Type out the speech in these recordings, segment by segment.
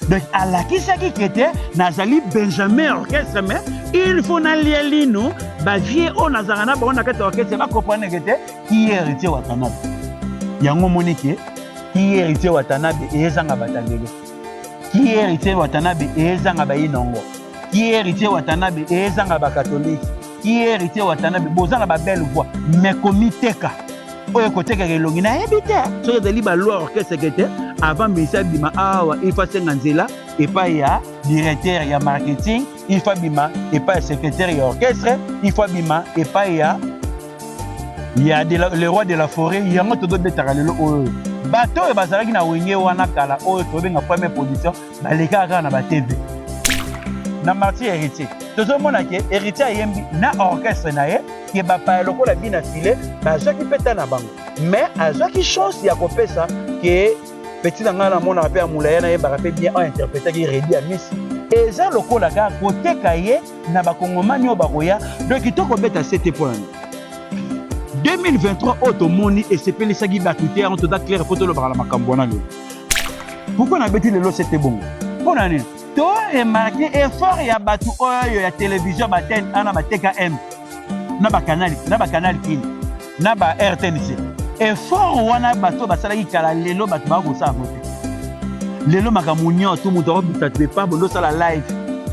donc alakisaki ke te nazali benjamin orchestre mais il faut nalia lino bavie oyo nazalaka na bango na kati ya orchestre bakompreneke te ki héritier watanabe yango omoni ke ki héritier watanabe ezanga batangelo ki héritier watanabe ezanga bayinongo ki héritier watanabe ezanga ba catholique ki héritier watanabe boza na ba belle voix mais komiteka oyo kotekaka elongi nayebi te soki ezali baloi orchestre te avant misa bima awa ifa senga nzela epai ya directeur ya marketing ifa bima epai ya secrétaire ya orchestre ifa bima epai ya ya le roi de la forêt yango tozobetaka lelo oyo bato oyo bazalaki na wenge wana kala oyo tobenga première position balekaka kaka na ba tv na marti ya héritier tozomona ke héritier ayembi na orchestre na ye ke bapaya lokola bina file bazwaki mpe ta na bango mais azwaki chance ya kopesa ke peti na ngai namonaka mpe ya molaya nayembaka mpe bien ointerpretaki redi ya misi eza lokola kaka koteka ye na bakongomani oyo bakoya donc kitoko beta sete mpo na nini 2023 oyo tomoni esepelisaki bato te yango toza claire mpo tolobaka na makambo wana lelo pourkoi nabeti lelo sete bongo mpo na nini to remarke effort ya bato oyo ya televizio batene ana batkm na bakanali na bakanali kini na ba rtnc effort wana bato basalaki kala lelo bato baa kosala yango te lelo makambo nyonso moto akobisa te epa bondosala live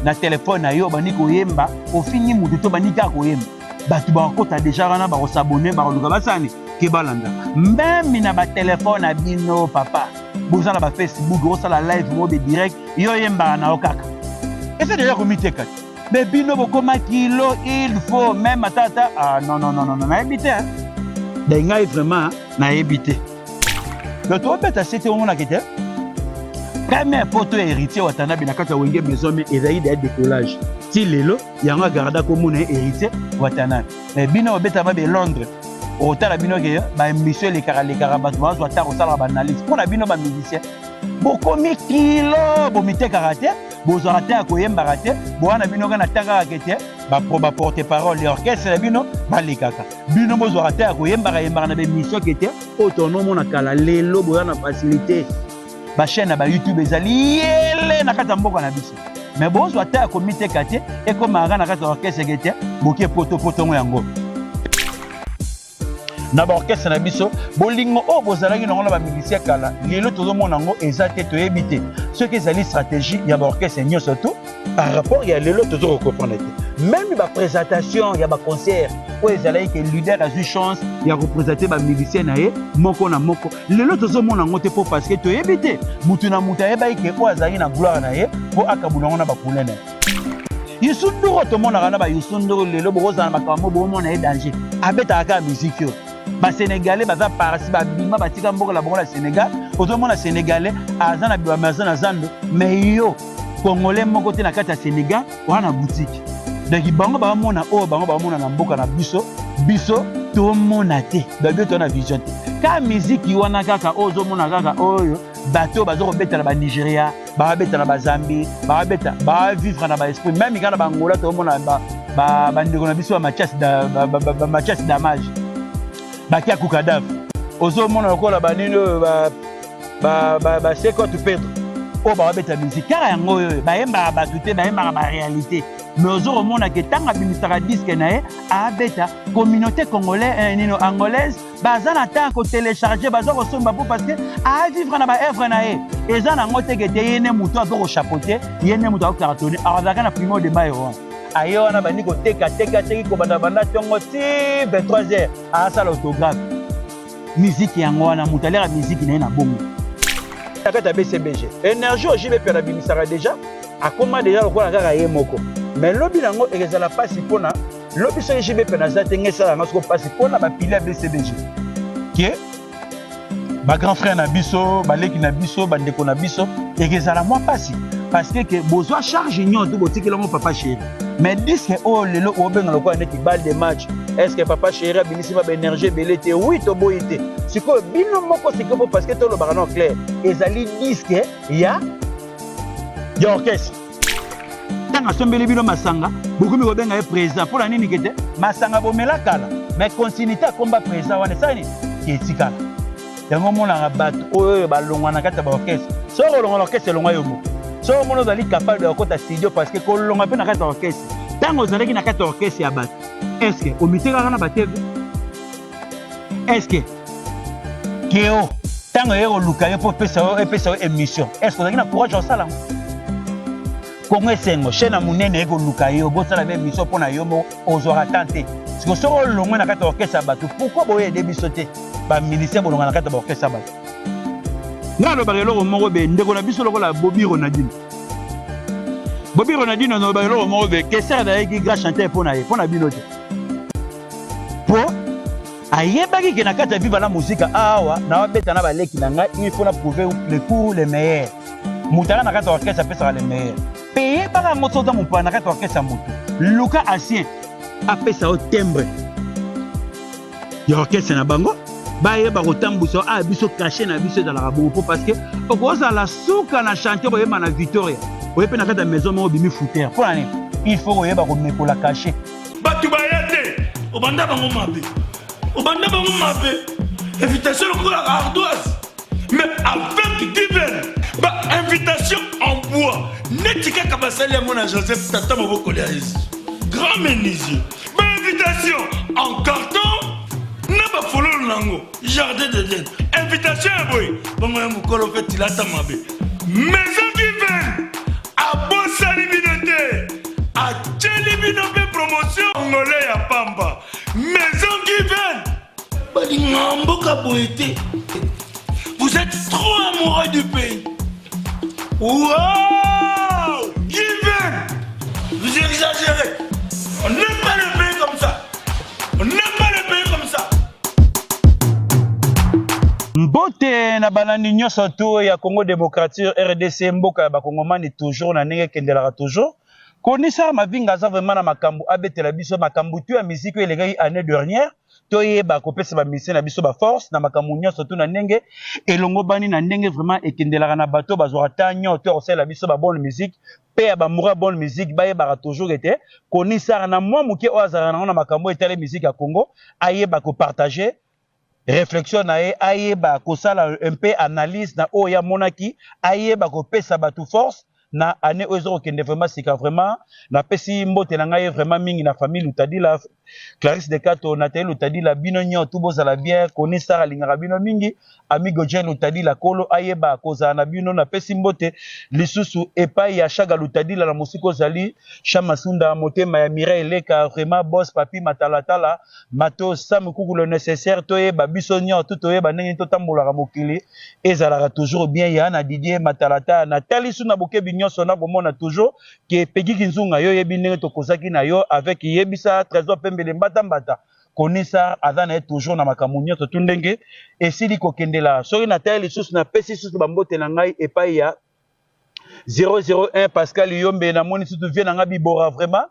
na telefone na yo obandi koyemba ofingi moto to obandi kaka koyemba bato bakokota deja wana bakosabone bakoluka basani ke balanda meme na batelefone na bino papa boza na bafacebook osala live mobe direct yo oyembaka na yo kaka ese deja komiteka te me bino bokoma kilo il faut meme atata ah, non, non, non, non, nayebi te dai ngai vraiment nayebi te donc tobeta se te omonaka te première poto ya héritier watanabe na kati ya wenge maison me ezali deya décollage ti lelo yango agarda komona ye héritier watanabe mais bino obeta mabe londres okotala bino ke baémission elekaka lekaka bato bazwa ata kosalaka baanalyse mpo na bino bamusicien bokomi kilo bomitekaka te bozwaka te ya koyembaka te boa na bino kana ta kaka ke te baporte parole ya orchestre na bino balekaka bino bozwaka te ya koyembaka yembaka na bemission ke te oyo tonomona kala lelo boya na facilité ba chaîne ya ba youtube ezali yele na kati ya mboka na biso me bozwa ata ya komiteka te ekomaka na kati ya orchestre eke te boke potopotongo yango na baorkestre na biso bolingo oyo bozalaki nango na bamilisi ya kala lelo tozomona yango eza te toyebi te soki ezali stratégie ya baorkestre nyonso to par rapport ya lelo tozo kokomprendre te meme bapresentation ya baconcert oyo ezalaki ke leader azwi chance ya kopresente bamilisien na ye moko na moko lelo tozomona yango te mpo parceke toyebi te motu na motu ayebaki ke oyo azalaki na gloire na ye mpo akabula yango na bakule na ye yusu nduru tomonaka na bayusu nduru lelo bokozala makambo bomona ye danger abetaka kaka miziki oyo basenegalais baza parasi babima batika mboka na bango na senegal ozomona senegalais aza na biwame aza na zando mai yo kongole moko te na kati ya senegal wana na boutique donc bango bamona oyo oh, bango bamona na mboka na biso biso tomona te babi oyo na vision te ka miziki wana kaka oyo oh, ozomona kaka oyo oh, bato baza kobeta na banigeria babeta na bazambi babeta bavivre na baesprit meme kaka na bangola tomona bandeko na biso bamatias damage bakia kukadave ozomona lokola banini oyo ba ba ba seko tu Pedro oyo bakobeta musique kaka yango oyo bayembaka bato te bayembaka baréalité mais ozo komona ke ntango abimisaka diske na ye abeta communauté congolais eh, nino angolaise baza na temps ya kotelecharge baza kosomba mpo parce que avivre na baevre na ye eza nango teke te ye ne moto azo kochapote ye ne moto akokartone azalaka na primo de bayo wana aye wana bandi kotekateka teki kobandabanda ntongo ti 23 heures asala autographe miziki yango wana moto aliaka miziki na ye na bongo na kati ya bcbg energie oyo jb piana abimisaka deja akoma deja lokola kaka ye moko mais lobi nango ekezala mpasi mpona lobi soki jb piana aza te ngai esala yango soko mpasi mpona bapile ya bcbg ke bagrand frère na biso baleki na biso bandeko na biso ekezala mwa mpasi parce que bozo charge nyoto botikela ngo papa chéri mais disque oyo lelo obenga lokola neti balle de match est ce que papa chéri abimisi ba baénergie ebele te wi toboyi te sikoyo bino moko sikoyo mpo parce que tolobaka no clair ezali disque ya ya orchestre ntango asombeli bino masanga bokomi kobenga ye président mpo na nini kete masanga bomela kala mais continuité akomba président wana esali nini etikala yango omonaka bato oyo oyo balongwa na kati ya baorkestre soki olonga na orkestre elongwa yo moko soki omona ozali capable ya kokota studio parce que kolonga mpe na kati ya orkestre ntango ozalaki na kati ya orkestre ya bato eske omitekaka na batv eske keo ntango eye koluka yo mpo epesa yo emission eske ozalaki na courage ya kosala yango kongo esengo chaine ya monene eko luka yo bosala be mission mpo na yo moko ozwaka temps te siko soki olongwe na kati ya orchestre ya bato pourkoi boye ede biso te bamilisien bolonga na kati ya baorchestre ya bato nga alobaka eloko moko be ndeko na biso lokola bobi ronadino bobi ronadino nalobaka eloko moko be keser nayeki grand chanteur mpo na ye mpo na bino te mpo ayebaki ke na kati ya viva la mosika awa nawabeta na baleki na ngai il faut na prouve le cour le meilleur moto aya na kati ya orchestre apesaka le meilleur mpe yebaka yango soki oza mopaya na kati ya orchestre ya moto luka ancien apesa yo timbre ya orchestre na bango bayeba kotambwisa aya ah, biso kashe na biso ezalaka bongo mpo parce que okozala suka na chantier koyemba na victoria oye mpe na kati ya maison moko obimi foutere mpo na nini il faut koyeba komekola kashe bato baya te obanda bango mabe obanda bango mabe invitation lokola ardoise mais avec divin ba invitation en bois neti kaka basali yango na joseph tata moboko lya yesu grand menuisier ba invitation en carton na bafololo na yango jardin de den invitation ya boye bongo ya mokolo mpe tilata mabe maison divin abosani bino te atyeli bino mpe promotion ngole ya pamba maison divin balinga mboka boye te vous êtes trop amoureux du pays wow given vous exagérez on n'aime pas le pays comme ça on n'aime pas le pays comme ça mbote na balandi nyonso to ya congo démocrature rdc mboka ya bakongomani toujours na ndenge ekendelaka toujours Connaisseur Mavinga aza vraiment na makambu abetela biso makambu tout ya musique oyo elekaki annee dernière toyeba kopesa ba musiciens na biso ba force na makambu nionso tout na ndenge elongobani na ndenge vraiment ekendelaka na bato bazwaka temps nionso ya kosalela biso ba bonne musique pe ya ba mura bonne musique bayebaka toujours ete Connaisseur na mwa moke oyo azalaka nango na makambu oyo etali musique ya Congo ayeba ko partager reflexion na ye ayeba kosala un peu analyse na oyo ye amonaki ayeba kopesa batu force na annee oyo ezokokende vraiment sika vraiment napesi mbote na ngai vraiment mingi na famille lutadila clarisse de kato nathalie lutadila bino nyotu bozala bien koni sara alingaka bino mingi amigo jean lutadila kolo ayeba kozala na bino napesi mbote lisusu epai ya shaga lutadila na mosika ozali shamasunda motema ya mireille leka vraiment boss papi matalatala Matos sans mikuku le necessaire toyeba biso nioto toyeba ndenge nini totambolaka mokili ezalaka toujours bien ya na Didier matalatala natali su na bokebi nionso nakomona toujours que Peggy Kinzunga yo oyebi ndenge tokozaki na yo avec yebisa Tresor Pembele mbata mbata Konisa aza na ye toujours na makambo nionso tout ndenge esili kokende la soki natali lisusu napesi lisusu bambote na ngai epai ya 001 Pascal Yombe namoni sutu vie na ngai bibora vraiment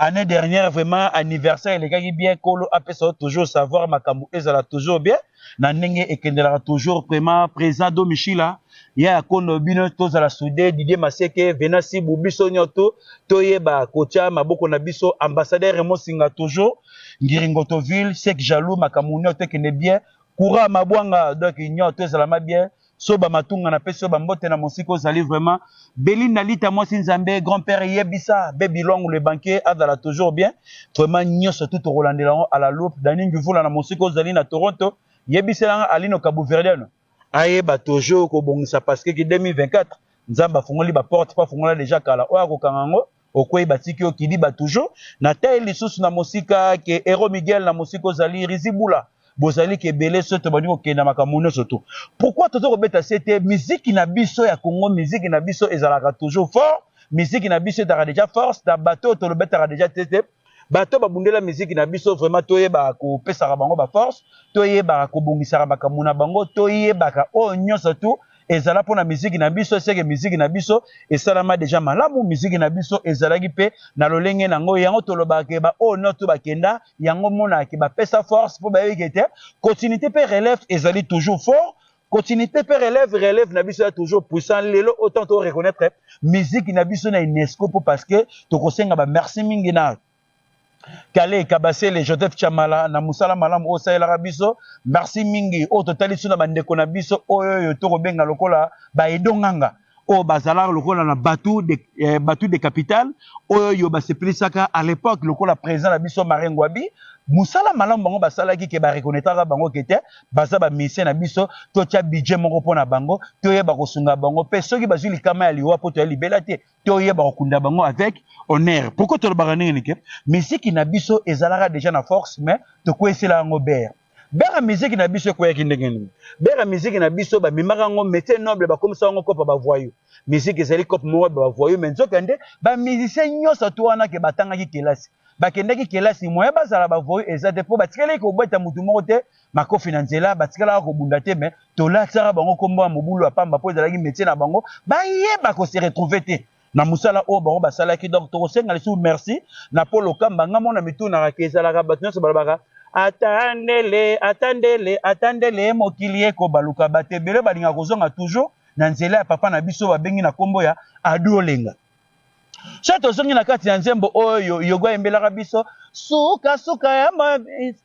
Annee dernière vraiment anniversaire elekaki bien kolo apesa yo toujours savoir makambo ezala toujours bien na ndenge ekendelaka toujours vraiment président Domishila ya ya kondo bino tozala soude Didier Maseke Venasi bu biso nyoto toyeba kotya maboko na biso ambassadeur Raymond Singa toujours Ngiringoto ville sek jaloux makambo nyoto ekende bien courant mabwanga donc nyoto ezalama bien Soba matunga na pesi yo ba mbote na mosika ozali vraiment Belinda lita mwasi nzambe grand père yebisa baby long le banquier azala toujours bien vraiment nyoso tout tokolandela yango à la loupe Dani Ngivula na mosika ozali na Toronto yebisela nga Alino Kabuverdiano ayeba toujours kobongisa parce que ki 2024 nzambe afungoli ba porte po afungola dejà kala oyo akokanga yango Okwei batiki yo kidiba toujours. Na taille lisusu na mosika ke Hero Miguel na mosika ozali Rizibula. Bozali ke bele soto bandi kokenda makambo nyoso tout. Pourquoi tozo kobeta sete miziki na biso ya Congo miziki na biso ezalaka toujours fort miziki na biso ezalaka deja force na bato oyo tolobetaka deja sete bato babundela miziki na biso vraiment toyebaka kopesaka bango baforce toyebaka kobongisaka makambo na bango toyebaka oyo nyonso tu ezala mpo na miziki na biso eseke miziki na biso esalama deja malamu miziki na biso ezalaki mpe na lolenge na yango yango tolobaka ke baoyo oh, nyonso bakenda yango monaka bapesa force mpo bayebiki ete continuité mpe relève ezali toujours fort Continuité pe relève relève na biso ya toujours puissant lelo autant to reconnaître musique na biso na UNESCO po parce que tokosenga ba merci mingi na Kale Kabasele Joseph Chamala na musala malamu oyo salelaka biso merci mingi oyo totalisi na bandeko na biso oyo oyo tokobenga lokola baedonganga oyo bazalaka lokola na batu de, eh, batu de capital oyo basepelisaka à l'époque lokola président na biso Marie Ngwabi musala malamu bango basalaki ke barekonetraka bango ke te baza bamisie na biso totya budget moko mpo na bango toyeba kosunga bango mpe soki bazwi likama ya liwa mpo toya libela te toyeba kokunda bango avec honneur pourkoi tolobaka ndenge nike miziki na biso ezalaka deja na force mais tokweyisela yango bere Bera musique na biso ekweyaki ndenge nini? Bera musique na biso bamemaka yango métier noble bakomisa yango kopa ba voyous. Musique ezali kope moko ba voyous mais nzoka nde ba musiciens nyonso to wana ke batangaki kelasi. Bakendaki kelasi moyen bazala ba voyous eza te mpo batikalaki kobeta motu moko te makofi na nzela batikalaka kobunda te mais tolatisaka bango nkombo ya mobulu ya pamba mpo ezalaki métier na bango bayeba ko se retrouver te. na musala oyo bango basalaki donc tokosenga lisusu merci na paul okamba nga mona mitunaka ke ezalaka bato nyonso balobaka ata ndele ata ndele ata ndele mokili ekobaluka bato ebele balingaka kozonga toujours na nzela ya papa na biso babengi na nkombo ya adolenga so tozongi na kati ya nzembo oyo yogo ayembelaka biso sukasuka ya,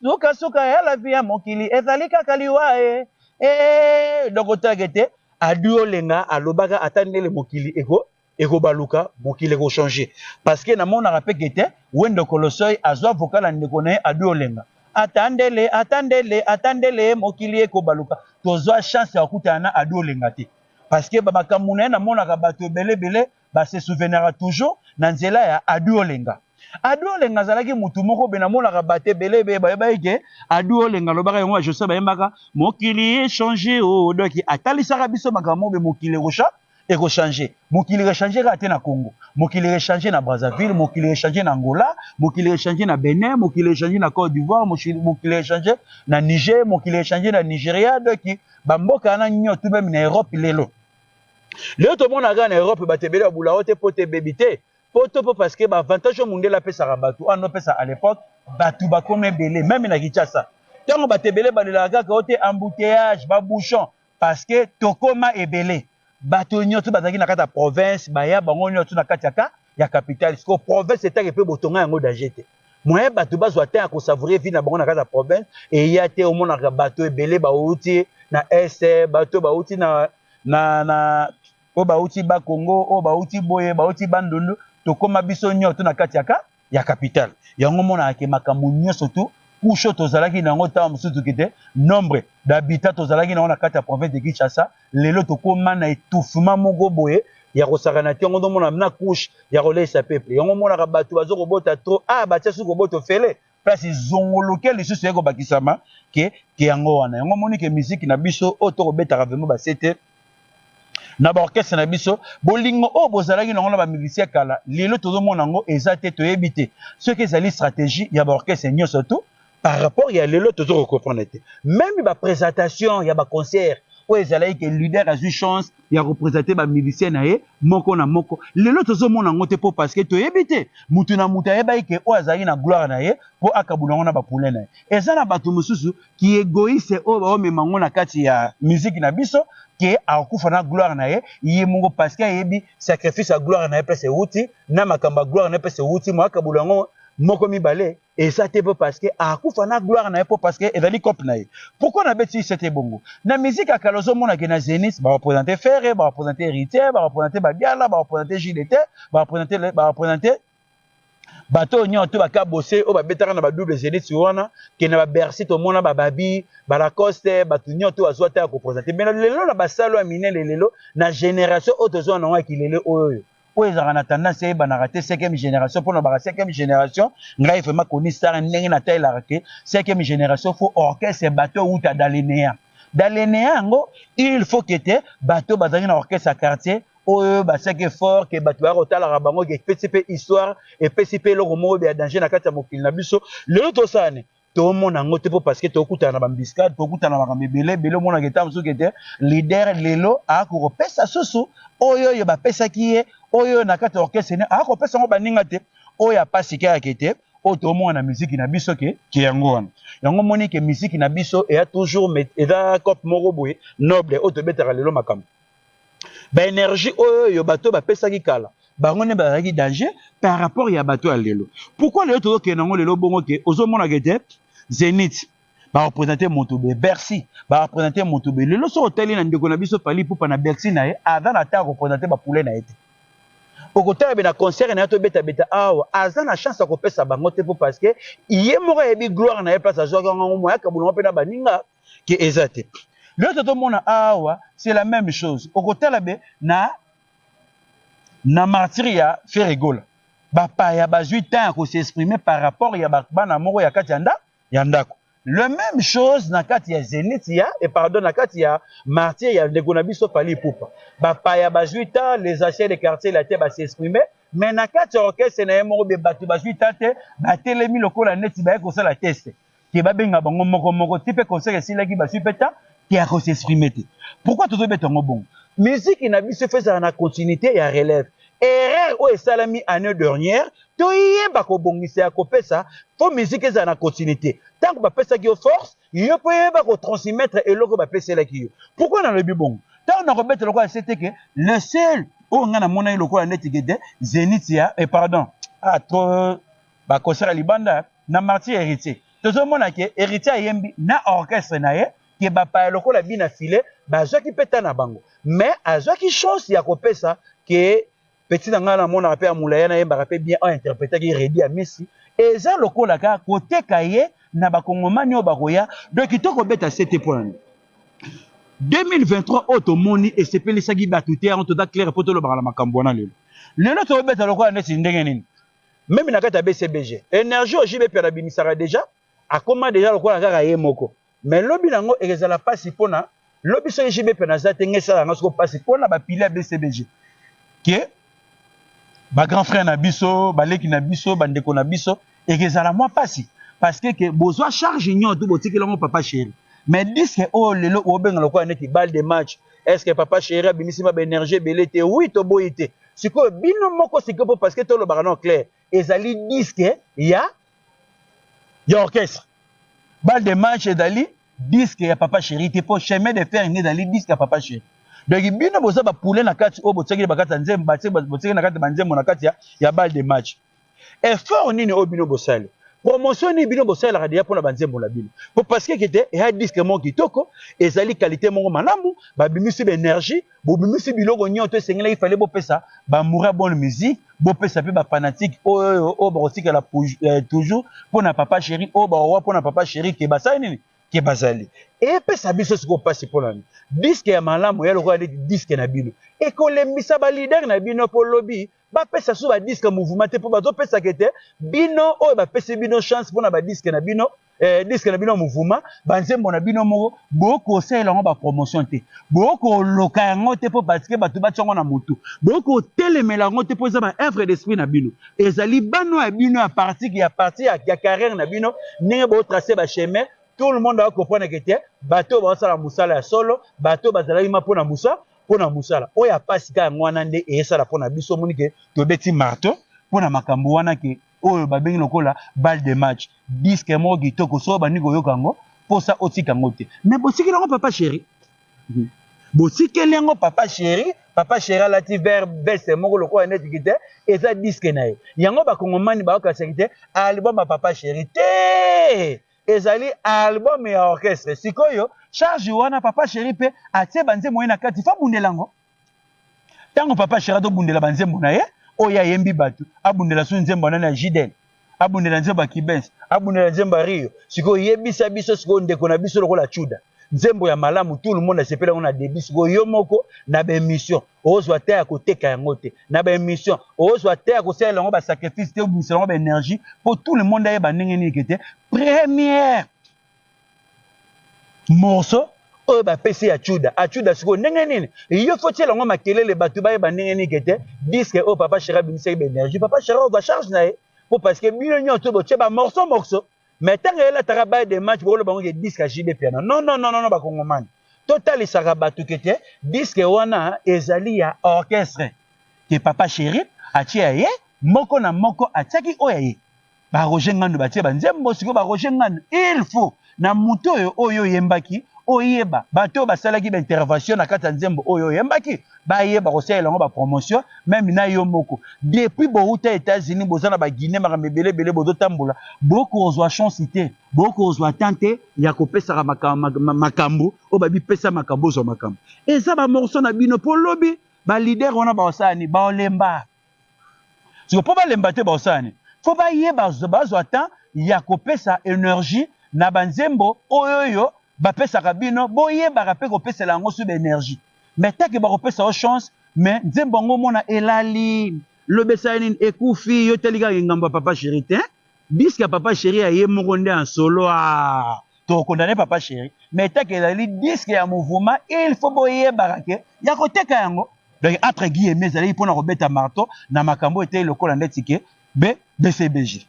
suka, suka ya lavi ya mokili ezali kaka liwa e eh, eh, eh, donc otalaka ete Adiolenga alobaka ata ndele mokili eko ekobaluka mokili eko changer parce que namonaka pe que te Wendo Kolosoy azwa vocal ya ndeko na ye Adiolenga ata ndele ata ndele ata ndele mokili ekobaluka tozwa chance ya kokutana na Adiolenga te parce que ba makambo na ye namonaka bato ebele ebele ba se souvenaka toujours na nzela ya Adi Olenga. Adi Olenga azalaki mutu moko be namonaka bato ebele ebe bayebaki ke Adi Olenga alobaka yango Joseph bayembaka mokili echange o oh, doki atalisaka biso makambo be mokili ekosha ekochange mokili rechange kaka te na Congo mokili rechange na Brazzaville mokili rechange na Angola mokili rechange na Benin mokili rechange na Côte d'Ivoire mokili rechange na Niger mokili rechange na Nigeria doki bamboka wana nyonso meme na Europe lelo leo tomona kaka na europe bato ebele babulao te poto ebebi te poto mpo parce que baavantage oyo mondele apesaka bato oyo anopesa à l'époque bato bakomi ebele meme na kinshasa ntango bato ebele balelaka kaka o te embouteillage babouchon parce que tokoma ebele bato nyonso bazalaki na kati ya province baya bango nyonso na kati ya ka ya capitale sikoyo province etake mpe botonga yango danger te moyen bato bazwa temps ya kosavoure vie na bango na kati ya province eya te omonaka bato ebele bauti na est bato bauti na na na oyo bauti bakongo oyo bauti boye bauti bandundu tokóma biso nyonso na kati yaka ya capitale yango omonaka ke makambo nyonso tu kusho tozalaki na yango ntango mosusu kite nombre d'habitat tozalaki na yango na kati ya province de kinshasa lelo tokoma na etouffement moko boye ya kosakana te yango ozomona na couche ya koleisa peuple yango omonaka bato bazo kobota trop ah batia suki kobota ofele place ezongoloke lisusu yai kobakisama ke ke yango wana yango omoni ke miziki na biso oyo tokobetaka vraimen basete na baorchestre na biso bolingo oyo bozalaki nango na bamilisien kala lelo tozomona yango eza te toyebi te soki ezali stratégie ya baorchestre nyonso tu par rapport ya lelo tozo ko comprendre te même ba présentation ya ba concert oyo ezalaki ke leader azwi chance ya kopresente bamilisien na ye moko na moko lelo tozomona yango te mpo parceke toyebi te motu na motu ayebaki ke oyo azalaki na gloire na ye mpo akabula yango na bapoulain na ye eza na bato mosusu kiegoise oyo baomema yango na kati ya miziki na biso ke akokufa na gloire na ye ye moko parceke ayebi sacrifice ya gloire na ye mpe sewuti na makambo ya gloire na ye mpe sewuti moakabula yango moko mibale eza te bo parce que akufa na gloire na ye po parce que ezali cope na ye pourquoi na beti se te bongo na musique ya kala ozomona ke na zenith ba représenter ferre ba représenter héritier ba représenter babiala ba représenter jdt ba représenter ba représenter bato oyo nyonso to baka bose oyo babetaka na badouble zenith wana ke na babercy tomona bababi balacoste bato nyonso to bazwa ta ya koprésente me lelo na basalo ya minene lelo na génération oyo tozwa na yango ya kilele oyo oyo oyo ezalaka na tendance eyebanaka te cinquième génération mpo na baka cinquième génération ngai vraimen koni sara ndenge natalelaka ke cinquième génération fo orchestre bato euta dalenea dalenea yango il faut ke te bato bazalaki na orchestre ya quartier oyo basaki effort ke bato baya kotalaka bango ke epesi mpe histoire epesi mpe eloko moko ya danger na kati ya mokili na biso lelo tosala nini tomona yango te mpo parceke tokutana na bambiscade tokutana na makambo ebele ebele omonaka etango soki ete lider lelo akokopesa susu oyo oyo bapesaki ye oyo oyo na kati ya orchestre ne akopesa yango baninga te oyo apasi kaka ete oyo toomona na miziki na biso ke ke yango wana yango omoni ke miziki na biso eya toujours eza cope moko boye noble oyo tobetaka lelo makambo ba energie oyo bato bapesaki kala bango nde bazalaki danger par rapport ya bato ya lelo pourkui lelo tozokende yango lelo bongo ke ozomonaka ete zenith barepresente moto be bercy barepresente moto be lelo soki otali na ndeko na biso fali pupa na bercy na ye aza na ta represente bapule na ye te okotala be na concert na ye tobetabeta awa aza na chance ya kopesa bango te mpo parce que ye moko ayebi gloire na ye place azwaki yango yango moyaka bolongo mpe na baninga ke eza te lelo totomona awa c'est la même chose okotala be na na martiri ya feregola bapaya bazwi temps ya kosexprime par rapport ya bana moko ya kati ya nda ya ndako le même chose na kati ya zenith ya et pardon na kati ya martiri ya ndeko na biso fali ipupa bapaya bazwi temps les achats de quartier la te basexprime mais na kati ya orchestre na ye moko be bato bazwi temps te batelemi lokola neti baye kosala teste ke babenga bango moko moko ti mpe concert esilaki baswi mpe ta ke ya kosexprime te pourkui tozobeta yango bongo miziki na biso efe ezala na continuité ya relève erreur oyo esalami année dernière toyeba kobongisa ya kopesa mpo miziki ezala na continuité ntango bapesaki yo force yo mpe oyeba kotransmettre eloko oyo bapeselaki yo pourkui nalobi bongo ntango nakobeta lokola se te ke le seul oyo ngai namonaki lokola neti gede zenit ya eh, pardon ah, trop ba concert libanda na martyr héritier tozomona ke héritier ayembi na orchestre na ye ke bapaya lokola bina file bazwaki mpe ta na bango mais azwaki chance ya kopesa ke petit na ngai namonaka mpe ya molaya nayembaka mpe bien ointerpretaki redi ya misi eza lokola kaka koteka ye na bakongomani oyo bakoya donc kitoko beta sete mpo nani 2023 oyo tomoni esepelisaki bato te yango toza claire mpo tolobaka na makambo wana lelo lelo tobeta lokola neti ndenge nini meme na kati ya bcbg energie oyo jb piana abimisaka deja akoma deja lokola kaka ye moko mais lobi nango ekezala mpasi mpona lobi soki jb piana aza te ngai esala yango soko mpasi mpona bapile ya bcbg ke bagrand frère na biso baleki na biso bandeko na biso ekezala mwa mpasi parce que ke bozwa charge union to botikeli yango papa chéri mais disque oyo lelo obenga lokola neti balle de match est ce que papa chéri abimisi ma baénergie ebele te oui toboyi te sikoyo bino moko sikoyo mpo parce que tolobaka no clair ezali diske ya ya orchestre bal de manche ezali diske ya papa chéri te mpo chemin de fer nde ezali diske ya papa chéri donc bino boza bapule na kati oyo botiaki na bakati ya nzembo botiaki na kati ya banzembo na kati ya bal de match effort nini oyo bino bosali promotion nini bino bosalelaka deja mpona banzembo na bino po parceke kete eya diske moko kitoko ezali kalite moko malamu babimisi baenergie bobimisi biloko nyonso to esengelaki fale bopesa bamour ya bonne musique bopesa mpe bafanatike oyo oyo bakotikala eh, toujours mpona papa chéri oyo bakowa mpona papa chéri ke basali nini ke bazali epesa biso sikoyo mpasi mpo na nini diske ya malamu ya lokola neti diske na bino ekolembisa balidere na bino mpo lobi bapesa so badiske mouvement te mpo bazopesaka ete bino oyo bapesi bino chance mpo na badiske na bino eh, diske na bino ya mouvement banzembo na bino moko bokosalela yango bapromotion te bokoloka yango te mpo parceke bato batya yango na motu bokotelemela yango te mpo eza ba œuvre d'esprit na bino ezali bano ya bino ya partike ya parti ya carrière na bino ndenge botrace bachemin tout le monde akomprenake te bato oyo baosala mosala ya solo bato oyo bazalaki ma mpo na mosala mpo na mosala oyo ya mpasi ka yango wana nde eyesala mpo na biso omoni ke tobeti marto mpo na makambo wana ke oyo babengi lokola bal de match diske moko kitoko soo bandi koyoka yango mposa otika yango te me botikeli yango papa sheri mhm. botikeli yango papa sheri papa sheri alati ver veste moko lokola neti kite eza diske na ye yango bakongomani baokasaki te album ya papa sheri te ezali album ya orchestre sikoyo charge wana papa chéri pe atie banzembo ye na kati fo abundela yango ntango papa chéri azobundela banzembo na ye oyo ayembi bato abundela so nzembo anani ya jidel abundela nzembo ya kibens abundela nzembo ya rio sikoyo yebisa biso sikoyo ndeko na biso lokola chuda nzembo ya malamu tout le monde asepela yango na debut sikoyo yo moko na baémission ozwa te ya koteka yango te na baémission ozwa te ya kosalela yango basacrifice te obimisa yango baénergie mpo tout le monde ayeba ndenge nini ke te première morceau oyo bapesi ya chuda achuda sikoyo ndenge nini yo fo tiela yango makelele bato bayeba ndenge nini ke te diske oyo papa shera abimisaki baénergie papa shera ozwa charge na ye mpo parce que bino nyonso botie bamorceau morceau, morceau. Mais tango elle ataka baye de match bolo bango ke disque à JB Piana. Non non non non bakongomani. Totalisaka bato ke te disque wana ezali ya orchestre ke papa chéri atie ya ye moko na moko atiaki oyo ya ye. Ba Roger Ngandu batie ba nzembo siko ba Roger Ngandu il faut na moto oyo oyo oyembaki oyeba bato oyo basalaki ba intervention na kati ya nzembo oyo oyembaki baye bakosalela yango bapromotion meme na yo moko depuis bowuta états-unis boza na baguine makambo ebele ebele bozotambola bokozwa chance te bokozwa temps te ya kopesaka makambo oyo babipesa makambo bozwa makambo eza bamorso na bino mpo lobi balider wana baosala nini baolemba siko mpo balemba te bakosala nini mpo bayeba bazwa temps ya kopesa energie na banzembo oyo oyo bapesaka bino boyebaka mpe kopesela yango suba energie me take bakopesa yo chance me nzembo yango omona elali lobesa ye nini ekufi yo etali kaka engambo ya papa sheri te diske ya papa sheri ya ye moko nde ya solo a ah. to condamne papa chéri mais take ezali disque ya mouvement il faut boyebaka ke ya koteka yango donc entre guilleme ezalaki mpona kobeta marto na makambo etei lokola ndeti ke be bcbg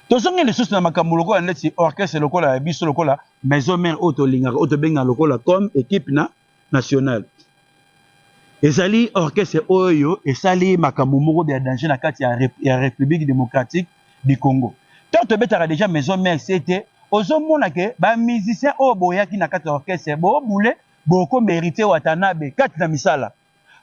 tozongi lisusu na makambo lokola ndeti orchestre lokola ya biso lokola maison mare oyo tolingaka oyo tobengaka lokola comme equipe na nationale ezali orchestre oyo esali makambo moko ya danger na kati ya, ya république démocratique du congo ntango tobetaka déjà maison mère sete ozomona ke bamusicien oyo boyaki na kati ya orchestre boobule bokoma héritier watanabe kati na misala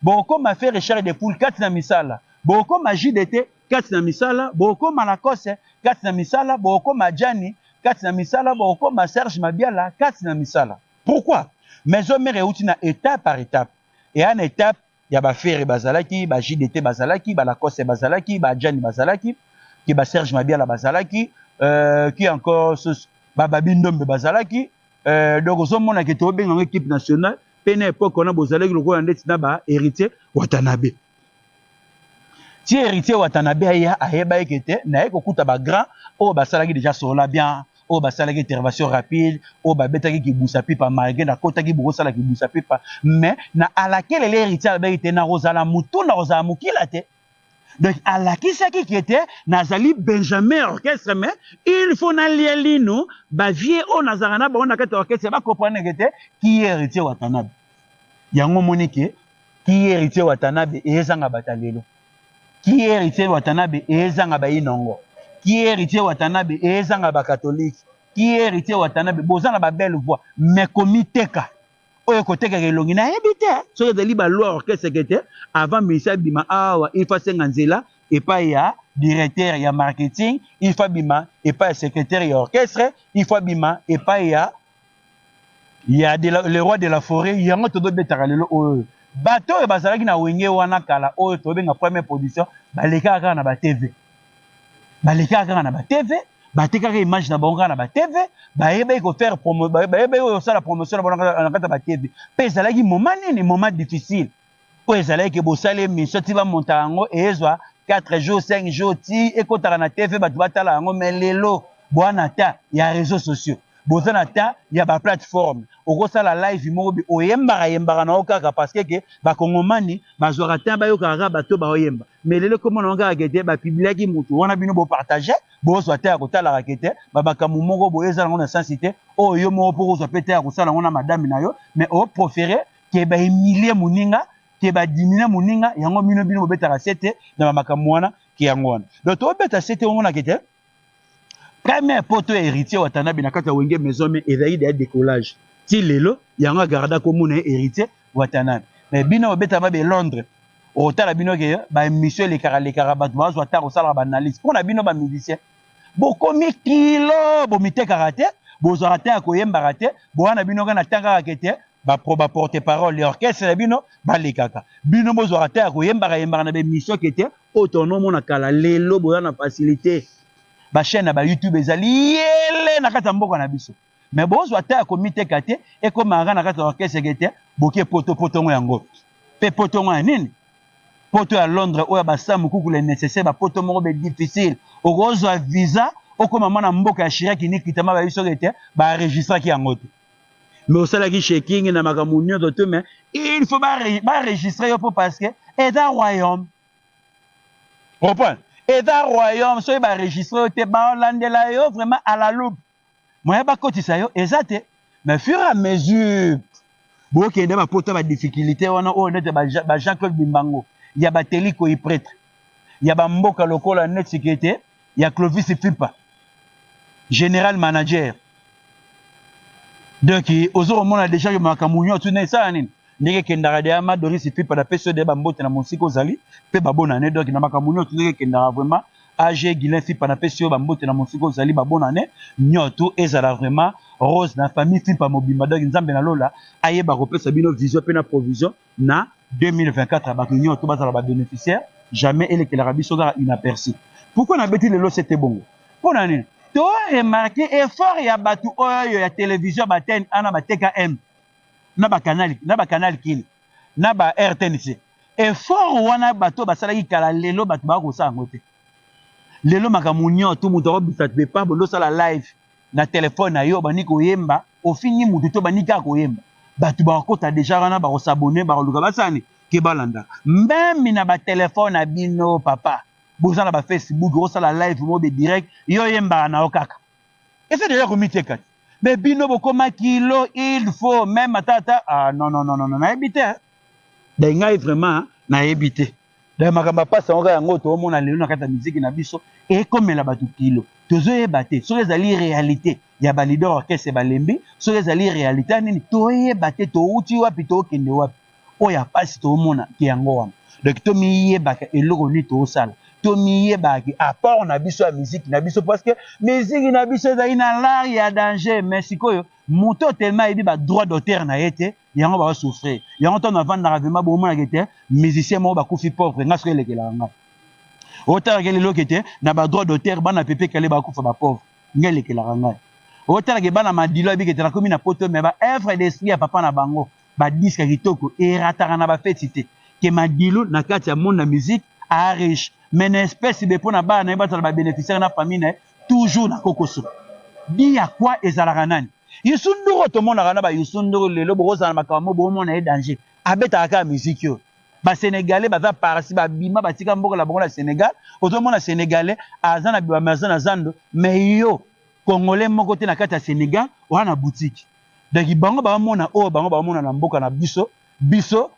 bokoma fe richard de poule kati na misala bokoma jdt kati na misala bokoma lacoste kati na misala bokoma jani kati na misala bokoma serge mabiala kati na misala Pourquoi? Maison mère euti na etape par etape. Eya na etape ya ba Ferre bazalaki, ba JDT bazalaki, ba Lacoste bazalaki, ba Adjani bazalaki, ki ba Serge Mabiala bazalaki, euh, qui encore sus, ba Babi Ndombe bazalaki. Euh, donc ozomona ke tobenga ngo equipe nationale mpe na epoque wana bozalaki lokola ndeti na ba héritier watanabe ti héritier watanabe aya ayeba ye ke te naye kokuta bagrand oyo basalaki deja sola bien oyo basalaki intervention rapide oyo babetaki kibusa pipa malgre nakotaki bokosala kibusa pipa mais na alakeleli héritier alobaki te nakozala motu nakozala mokila te donc alakisaki ke te nazali benjamin orchestre mais il faut nalia lino bavie oyo nazalaka na bango na kati ya orchestre bakompreneke te ki héritier watanabe yango omoni ke ki héritier watanabe ezanga batalelo ki héritier watanabe ezanga bainongo ki héritier watanabe ezanga bakatolike ki héritier watanabe boza na babelle voix mais komiteka oyo ekotekaka elongi nayebi te soki ezali baloi orchestre te avant misa bima awa il faut asenga nzela epai ya directeur ya marketing il faut abima epai ya secrétaire ya orchestre il faut abima epai ya ya de la, le roi de la forêt yango tozobetaka lelo oyo bato oyo bazalaki na wenge wana kala oyo tobenga première production balekaka kaka na batv balekaka kaka na batv batekaka image na bango kaka na batv bayebaki kofaire bayebaki kosala promotion na bango na kati ya batv mpe ezalaki moma nini moma difficile oyo ezalaki ke bosala emission ti bamontaka yango ezwa 4 jours 5 jours ti ekotaka na tv bato batala yango mai lelo boa na ta ya réseau sociaux boza na ta ya baplateforme okosala live moko bi oyembaka yembaka na yo kaka parceke ke bakongomani bazwaka ta bayokaka kaka bato baoyemba mai lelo ekomona yango kaka kete bapibliaki motu wana bino bopartage bozwa ta ya kotalaka kete bamakambo moko boye eza yango na sensi te oyo yo moko mpo kozwa mpe ta ya kosala yango na madame na yo mai oprofere ke ba humilier moninga ke ba diminuer moninga yango mino bino bobetaka sete na ba makambo wana ke yango wana donc tobeta sete omonaka ete premier poto ya héritier watanabe na kati ya wenge maison me ezali deya décollage ti lelo yango agarda komona ye héritier watanabe mais bino bobetama be londres otala bino ke baémission elekaka lekaka bato bazwa ntango osalaka baanalyse mpo na bino bamusicien bokomi kilo bomitekaka te bozwaka ntan ya koyembaka te bowana bino kaka na ntan kaka ke te ba pro ba porte parole ya orchestre na bino balekaka bino bozwaka ta ya koyembaka yembaka na baemission ke te oyo tonomona kala lelo boza na facilité bachaîne na bayoutube ezali yele na kati ya mboka na biso me bozwa ta ya komiteka te ekomaka na kati ya orchestre ke te boke poto potongo yango mpe potongo ya nini poto ya londres oyo ya basamu kukula nécessaire bapoto moko be difficile okozwa visa okoma mwana mboka ya shiraki nikitama bayebi soki ete baregistraki yango te mais osalaki shaking na makambo nyonso te mais il faut baregistre yo mpo parce que eza royaume comprendre eza royaume soki baregistre yo te balandela yo vraiment à la loupe moyen bakotisa yo eza te mais fur et à mesure bokende bapota badifficulté wana oyo nete bajean claude bimbango ya bateliko ipretre ya bamboka lokola neti kete ya Clovis Fipa general manager donc ozo komona deja ke makambo nyonso na esala nini ndenge ekendaka deya ma Doris Fipa na pesi yo deya bambote na mosika ozali mpe babonane donc na makambo nyonso ndenge ekendaka vraiment age guilin fipa na pesi yo bambote na mosika ozali babona ne nyotu ezala vraiment rose na famille fipa mobimba donc nzambe na lola ayeba kopesa bino vision mpe na provision na 2024 bato nyonso to bazala ba bénéficiaire jamais elekelaka biso kaka inaperci pourquoi nabeti lelo sete bongo mpo na nini to remarke effort ya bato oyo ya televizio ya batene ana ba tkm na bakanal na bakanal kili na ba rtnc effort wana bato basalaki kala lelo bato baka kosala yango te lelo makambo nyonso moto akobisa te pabo ndosala live na telefone na yo bandi koyemba ofingi motu to bandi kaka koyemba bato bakokota deja wana bakosabone bakoluka basani ke balanda meme na batelefone na bino papa boza na bafacebook osala live mobe direct yo oyembaka na yo kaka eza deja komiteka te me bino bokoma kilo il faut meme ata ata ah, non, non, non, non, nayebi te eh. dai ngai vraiment nayebi te Daya makambo ya pasi yango kaka yango toomona lelo na kati ya miziki na biso ekomela bato kilo tozoyeba te soki ezali realite ya balider orchestre balembi soki ezali realite ya nini toyeba te touti wapi tookende wapi oyo ya pasi toomona ke yango wana donk tomiyebaka eloko nini toosala tomiyebaki apport na biso ya miziki na biso parceke miziki na biso ezali na lare ya danger mais sikoyo moto telema ayebi badroit d'auteur na ye te yango ba souffrir yango to na vandaka vraiment bo mona kete musicien mo ba kufi pauvre nga soki elekela nga o tala ke lelo kete na ba droit d'auteur bana pepe kale ba kufa ba pauvre nga elekela nga o tala ke bana madilo abi kete na komi na poto mais ba œuvre d'esprit ya papa na bango ba disque kitoko erataka na ba feti te ke madilo na kati ya monde na musique a riche mais na espèce be pona bana na ye bazala ba bénéficiaire na famille na ye Toujours na kokoso. Dit ya quoi ezalaka nani? Youssou Ndour tomonaka na ba Youssou Ndour lelo bokozala na makambo bomona ye danger. Abetaka kaka musique oyo. Ba Sénégalais baza parsi babima batika mboka na bango na Sénégal. Ozomona Sénégalais aza na biwa aza na zando mais yo Congolais moko te na kati ya Sénégal oza na boutique. Donc bango bamona oyo bango bamona na mboka na biso biso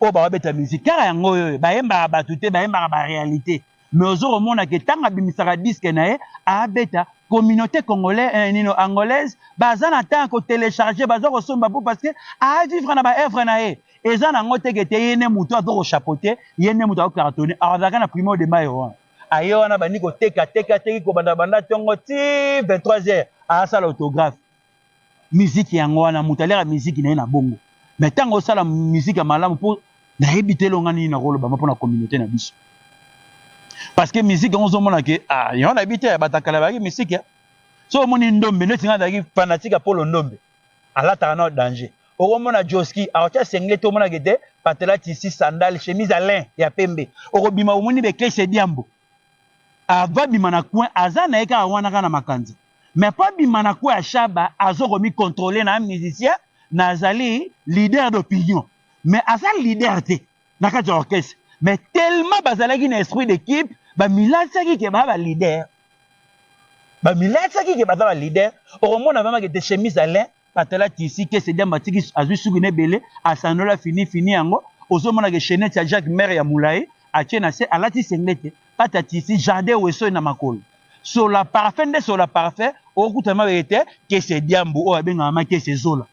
oyo ba beta musique kaka yango oyo bayembaka bato te bayembaka ba réalité mais ozo komona ke ntango abimisaka diske na ye abeta communauté congolais eh, nino angolaise baza na temps ya kotelecharge baza kosomba mpo parce que avivre na baevre na ye eza na yango teke te ye nde motu azo kochapote ye nde motu akocartone azalaka na primo de mayo wana aye wana bandi koteka teka teki kobanda banda ntongo ti 23 heures asala autographe musique yango wana moto aliaka musique na ye na bongo mais ntango osala musique ya malamu mpo nayebi te elonga nini nakoloba mpo na communauté na biso parce que musique yango ozomona ke ah, yango nayebi te batakala bayaki musique so omoni ndombe neti ngai nazalaki fanatique ya polo ndombe alataka nao danger okomona joski aotya sengle te omonaka ete patela tisi sandale chemise alain ya pembe okobima omoni bekese diambo Avant abima na coin aza na ye kaka wana kaka na makanza mais après abima na coin ya Shaba azo ko mi controle na musicien nazali leader d'opinion mais aza leader te na kati ya orchestre mais tellement bazalaki na esprit d'équipe bamilatisaki ke baa baleader bamilatisaki ke baza baleader okomona vraiment ke te chemise alain batala tisi kese diamba atiki azwi suki na ebele asanola fini fini yango ozomona ke chenete ya jacques mare ya molai atie na se alati sengle te pata tisi jardin wesoe na makolo sola parfum nde sola parfum okuta mabeke te kese diambu oyo abengaka ma kese zola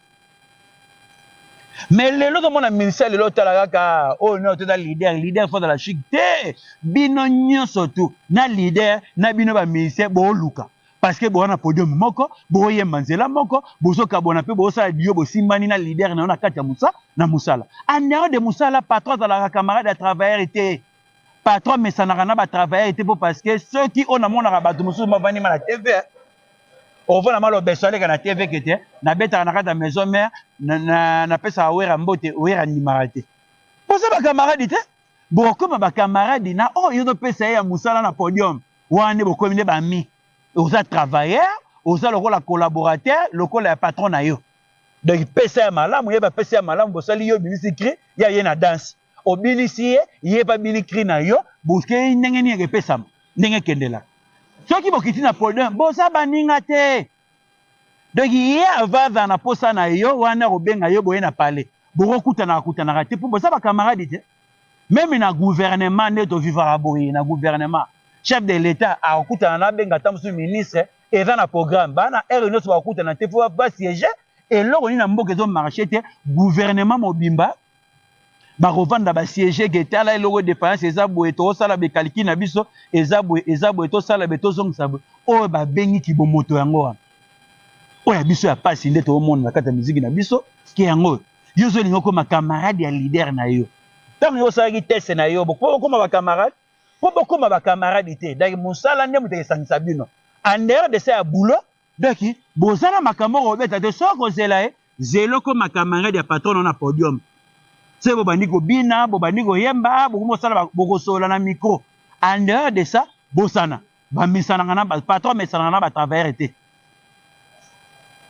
me lelo tomona minisa lelo otala kaka oyo nao toza lider lider fo azala chik te bino nyonso tu na lider na bino baminisien booluka parce que boza na podium moko boyemba nzela moko bozokabwana mpe bosala dio bosimbani na leader na yo na kati ya mosa na mosala anero de mosala patron azalaka camarade ya travailleur te patron amesanaka na batravailleur te mpo parce que soki oyo namonaka bato mosusu bavandi ma na tv ovona malobeso aleka na tv ke te nabetaka na kati ya maison mare napesaka wera mbote wera ndimaka te boza bakamaradi te bokoma bakamaradi na oyo oh, ezopesa ye ya mosala na podium wana nde bokomi nde bami oza travailleur oza lokola collaborateur lokola ya patron na yo donc pesa ya malamu ye bapesa ya malamu bosali yo obimisi cri ya ye na danse obinisi ye ye mpe abini cri na yo bokei ndenge nini ekepesama ndenge ekendelaka soki bokiti na podium boza baninga te donc ye ava azala na posa na yo wana akobenga yo boye na palais bokokutanaka kutanaka te mpo boza bakamaradi te meme na gouvernement nde tovivaka boye na gouvernement chef de l'etat akokutana na abenga ata mosusu ministre eza na programme bana heure nyonso bakokutana te mpo basiege eloko nini na mboka ezomarche te gouvernement mobimba bakovanda basiege ke tala eloko defaillance eza boye tokosala bekaliki na biso eza boye eza boye tosala be tozongisa boye oyo babengi kibomoto yango wana oyo ya biso ya mpasi nde toomona na kati ya miziki na biso ke yango oyo yo ozolinga okoma camarade ya leader na yo ntango yo osalaki teste na yo bokoki okoma bacamarade mpo bokoma bacamarade te donc mosala nde moto ekesangisa bino en dehors de sa ya boulot Becky boza na makambo oko beta te soki oko zela ye zela okoma camarade ya patron na podium se bo bandi ko bina bo bandi ko yemba bo komo sala boko sola na micro en dehors de ça bosana ba mesanaka na patron mesanaka na ba travailleurs te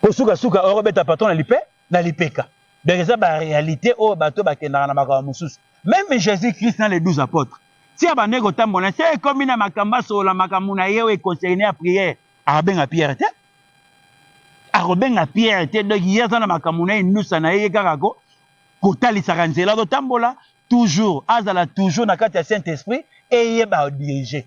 ko suka suka oko beta patron na lipe na lipeka donc eza ba réalité oyo bato bakendaka na makambo mosusu meme jésus christ na les 12 apôtres ti abandaki kotambola se ekomi na makambo asolola makambo na ye oyo econcerne ya prière akobenga pierre te akobenga pierre te donc ye aza na makambo na ye nusa na ye ye kaka ko kotalisaka nzela azotambola toujours azala toujours na kati ya saint esprit eye badirige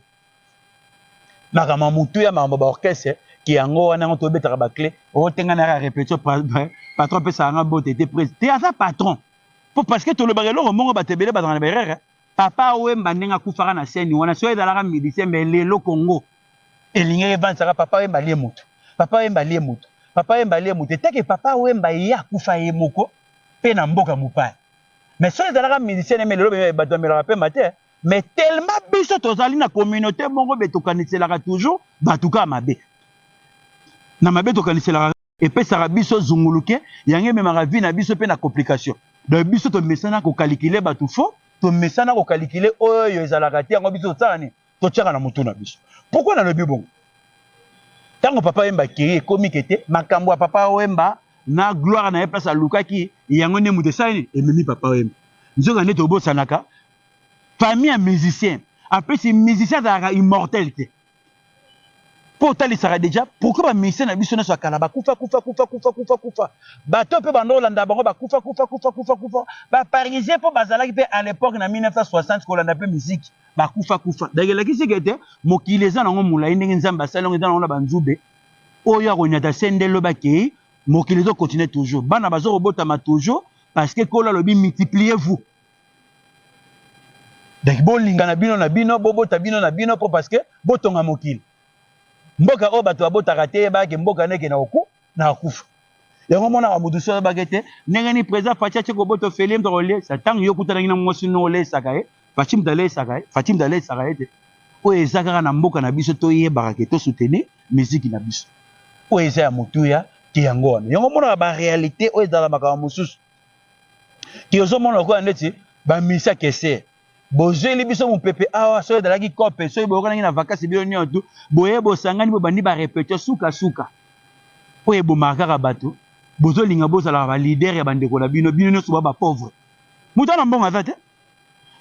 makambo ya motu ya makambo baorchestre ke yango wana yango tobetaka baclé otenga na ya repetition patron apesaka nga bote te presi te aza patron po parce que tolobaka eloko moko bato ebele bazala na baerreur Papa Wemba ndenge akufaka na scène wana soki ezalaka musicien mais lelo Congo elingi evansaka Papa Wemba alie moto Papa Wemba alie moto Papa Wemba alie moto eteke Papa Wemba ye akufa ye moko mpe na mboka mopaya mais soki ezalaka musicien neme lelo bemia bato bamelaka pema te mais tellement biso tozali na communauté moko be tokaniselaka toujours bato kaka mabe na mabe tokaniselaka epesaka biso zunguluke yango ememaka vie na biso mpe na complication donc biso tomesana kokalikile bato fo tomesana kokalikile oyo ezalaka te yango biso tosala nini totyaka na motu na biso pourkui nalobi bongo ntango papa wemba akei ekomi ke te makambo ya papa wemba na gloire na ye place alukaki yango nde moto esali nini ememi papa wemba nzoka nde tobosanaka famille ya musicien apesi musicien azalaka immortel te mpo otalisaka deja pourkui bamisie na biso nyonso ya kala bakufa kufa kufa kufa kufa kufa bato mpe bando olanda bango bakufa kufa kufa kufa kufa baparisien mpo bazalaki mpe à l'époque na 1960 kolanda mpe miziki bakufa kufa donc elakisi ke te mokili eza nango molai ndenge nzambe asali yango eza nango na banzube oyo akonyata se nde lobi akei mokili ezokontinue toujours bana bazokobotama toujours parce que nkolo alobi multipliez vous donc bolingana bino na bino bobota bino na bino mpo parce que botonga mokili mboka oyo bato babotaka te eyebaki mboka ndeke na oku na akufa yango omonaka moto so ayebaki te ndenge nini président faci atie kobota ofeli moto akolesa ntango yo okutanaki na mwasi no olesaka ye faci moto alesaka ye faci moto alesaka ye te oyo eza kaka na mboka na biso toyebaka ke tosoutenir miziki na biso oyo eza ya motuya te yango wana yango omonaka barealité oyo ezalaka makambo mosusu ti ozomona lokola ndeti bamisa kese bozweli biso mopepe awa soki ezalaki kope soki boyokanaki na vakasi bino nyonso tu boye bosangani bobandi barepetio sukasuka oyo ebomaka kaka bato bozolinga bozalaka balider ya bandeko na bino bino nyonso ba bapauvre moto ana mbongo aza te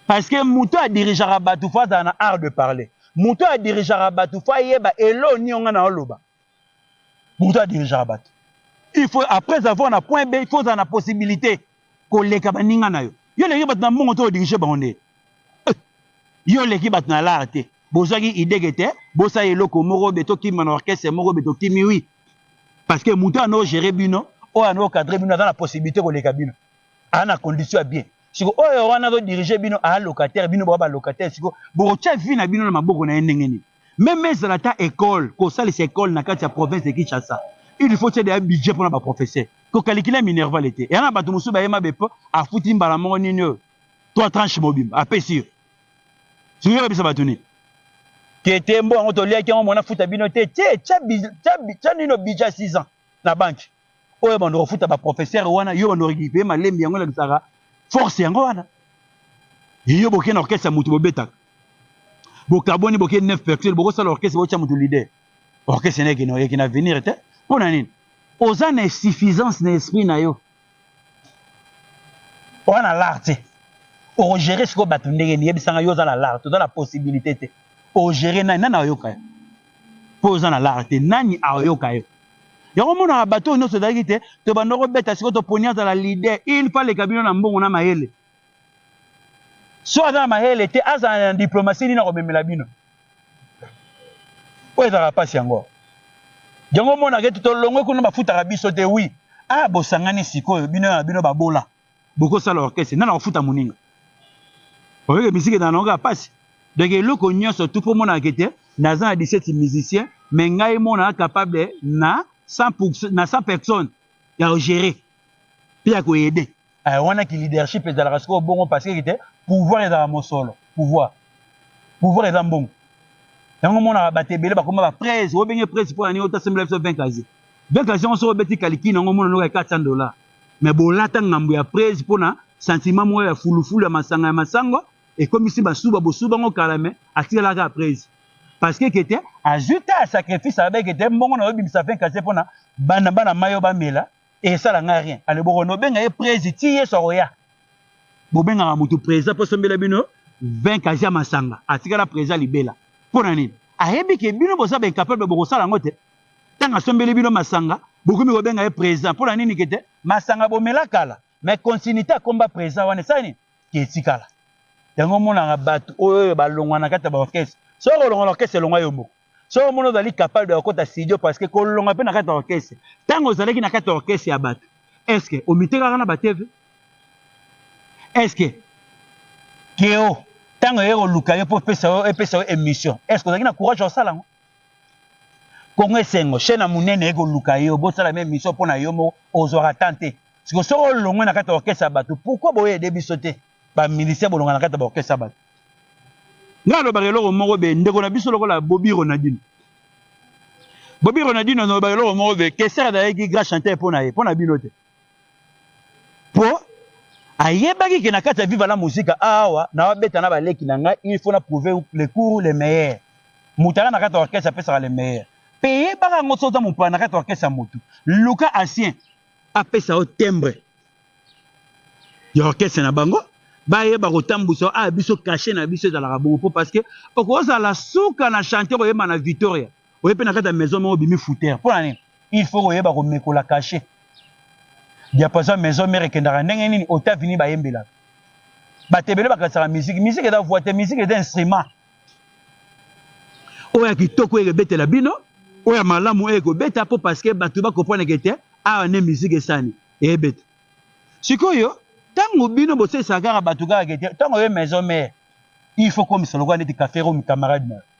parce que moto adirigeaka bato fo azala na art de parler moto adirigeaka bato fo ayeba elo nionga na oloba moto adirigeaka bato il faut après avoir na point b il faut ozala na possibilité koleka baninga na yo yo oleki bato na mbongo te odirige bango nde eh, yo oleki bato na lar te bozwaki idege te bosala eloko moko be tokima na orchestre moko be tokimi wi parce que moto anoo gere bino oyo anoo cadre bino aza na possibilité koleka bino aa na condition ya bien siko oyo wana azodirige bino aa locataire bino boa balocataire siko bokotya vie na bino na maboko na ye ndenge nini meme ezala ata ekole kosalisa ekole na kati ya province de kinshasa il faut tiede ya budget mpo na baprofesseur kokalikile minerval ete yana bato mosusu bayema bepo afuti mbala moko nini oyo trois tranche mobimba apesi yo soki oyebisa bato nini kete mbo yango toliaki yango mona futa bino te tie tya nino budget ya 6 ans na banki oyo bando kofuta ba professeur wana yo bando rekipe malembi yango elakisaka force yango wana yo boke na orchestre ya motu bobetaka bokaboni boke 9 percussion bokosala orchestre botya motu leader orchestre na ekino ekina avenir te mpo na nini oza na insuffisance na esprit na yo oza na lar te okogere sikoyo bato ndenge nini yebisanga yo oza na lar te oza na possibilité te ogere nani nani ayoka yo mpo oza na lar te nani ayoka yo Yango monaka bato oyo nyonso ezalaki te tobanda kobeta sikoyo toponi azala leader il faut aleka bino na mbongo na mayele so aza na mayele te azala na diplomatie nini akomemela bino oyo ezalaka mpasi yango yango omonaka ete tolongwe kuna bafutaka biso te wi a ah, bosangani sikoyo bino na bino babola boko sala orchestre nana kofuta muninga oyeke musique na nanga pasi donc eloko nyonso tout po mona ke te naza na 17 musicien mais ngai mona capable na 100 na 100 personnes ya gérer pe ya ko aider eh, wana ki leadership ezalaka sikoyo bongo parce que te pouvoir ezalaka mosolo pouvoir pouvoir eza mbongo yango monaka bato ebele bakoma baprese obenge prese mpo na nini otasembela biso 20 kazi Veste ya chanson obeti kaliki nango mona noka ya 400 dollars. Mais bolata ngambo ya prez pona sentiment moko ya fulufulu ya masanga ya masango ekomisi basuba bosuba ngo kala mais atikala kaka prez. Parce que kete azui ta sacrifice abe kete mbongo na obimisa 20 kase pona bana bana mayo bamela esala nga rien. Ale boko no benga ye prez ti yeso akoya. Bobengaka mutu preza po sombela bino 20 kase ya masanga atikala preza libela. Pona nini? Ayebi ke bino boza ba incapable bokosala ngo te. ntango asombeli bino masanga bokomi kobenga ye présent mpo na nini kete masanga bomela kala mais continuité akomba présent wana esali nini ketikala yango omonaka bato oyo oyo balongwa na kati ya baorchestre soki kolongwa na orchestre elongwa yo moko soki omoni ozali capable de kokota studio parce que kolongwa mpe na kati ya orchestre ntango ozalaki na kati ya orchestre ya bato est ce que omitekaka na bateve est ce que keo ntango eye koluka yo mpo epesa yo émission est ce que ozalaki na courage ya kosala yango Congo esengo chaîne ya munene eko luka yo bosala meme mission mpo na yo moko ozwaka temps te siko soki olongwe na kati ya orchestre ya bato pourquoi boye ede biso te ba musicien bolonga na kati ya ba orchestre ya bato nga alobaka eloko moko be ndeko na biso lokola Bobby Ronaldinho Bobby Ronaldinho alobaka eloko moko be Kessler azalaki grand chanteur mpo na ye mpo na bino te Po ayebaki ke na kati ya Viva la Musica awa nawa beta na ba leki na ngai il faut na prouver le cours le meilleur. Mutu aza na kati ya orchestre apesaka le meilleur. Pe yebaka yango soki oza mopaya na kati ya orchestre ya mutu. Luka ancien apesa yo timbre ya orchestre na bango bayeba kotambwisa yo. Ah biso cachet na biso ezalaka bongo po parce que okozala suka na chantier koyemba na Victoria. oye mpe na kati ya maison moko obimi fouteur mpo na nini il faut koyeba komekola kashe diapason maison mare ekendaka ndenge nini otavini bayembelaka bato ebele bakanisaka miziki miziki eza voi te miziki eza instrument oyo ya kitoko eye kobetela bino oyo ya malamu eye kobeta mpo parceke bato bakompreneke te awa nde miziki esani eyebeta sikoyo ntango bino bosalisaka kaka bato kaka ke te ntango oye maison mare il faut komisa lokola neti cafero mi camarade na yo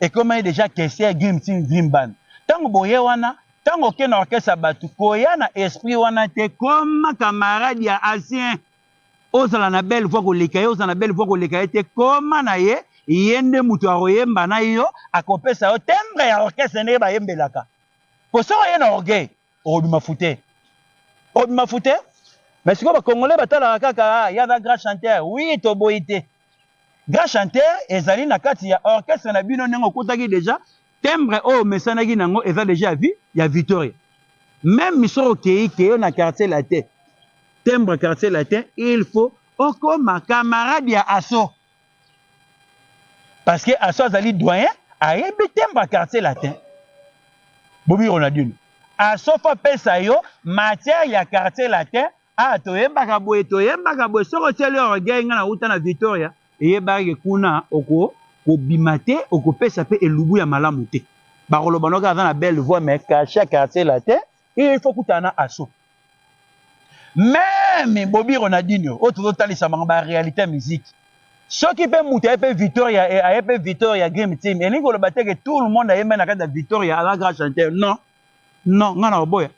ekomaki deja kese gim tin dream band ntango boye wana ntango oke na orkestre ya bato koya na esprit wana te koma kamarade ya asien ozala na belle voi koleka ye ozala na belle voi koleka ye te koma na ye ye nde moto akoyemba na yo akopesa yo tembre ya orkestre ndenge bayembelaka po soki oye na orgueil okobima fute okobima fute mais sikoyo bacongolais batalaka kaka ah, ya ba grand chanteur oui toboyi te grand chanteur ezali na kati ya orchestre na bino ndenge okotaki deja timbre oyo omesanaki na yango eza deja ya vie ya victoria meme misoko okei keyo na quartier latin timbre quartier latin il faut okoma camarade ya aso parce que aso azali doyen ayebi tembo ya quartier latin bobi ronaldino aso fo apesa yo matière ya quartier latin ah toyembaka boye toyembaka boye soki otyeli orgueil ngai nauta na victoria eyebaki kuna oko kobima te okopesa mpe elubu ya malamu te bakoloba noki aza na belle voix mais cache ya quartier latin il faut kutana na aso meme bobi ronaldinho oyo tozotalisa bango ba réalité ya musique soki mpe moto aye mpe victoria eh, aye mpe victoria game team elingi koloba te ke tout le monde ayembe na kati ya victoria aza grand chanteur non non ngai na oboya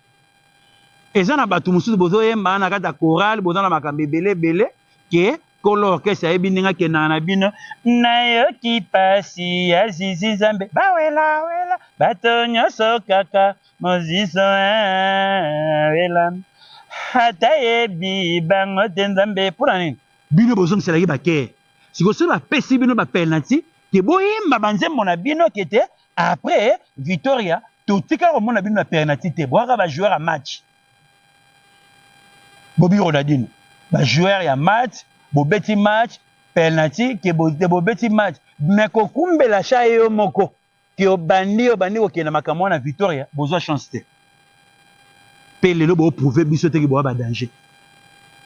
eza na bato mosusu bozoyemba na kati ya chorale boza na makambo ebele ebele ke kolo orchestre ayebi ndenge akendaka na bino nayoki pasi ya zizi nzambe bawelawela bato nyonso kaka mozizo eh, wela ata yebi bango te nzambe mpo na nini bino bozongiselaki bakee sikoyo soki bapesi bino bapenalti ke boyemba banzembo na bino ke te après victoria totika komona bino na penalti te boyaka bajoueur ya match Bobby Ronaldinho ba joueur ya match bobeti match penalty ke bobeti match mais kokumbela sha yo moko ke obandi obandi kokenda makambo wana Victoria bozwa chance te mpe lelo booprouve biso teke boa badanger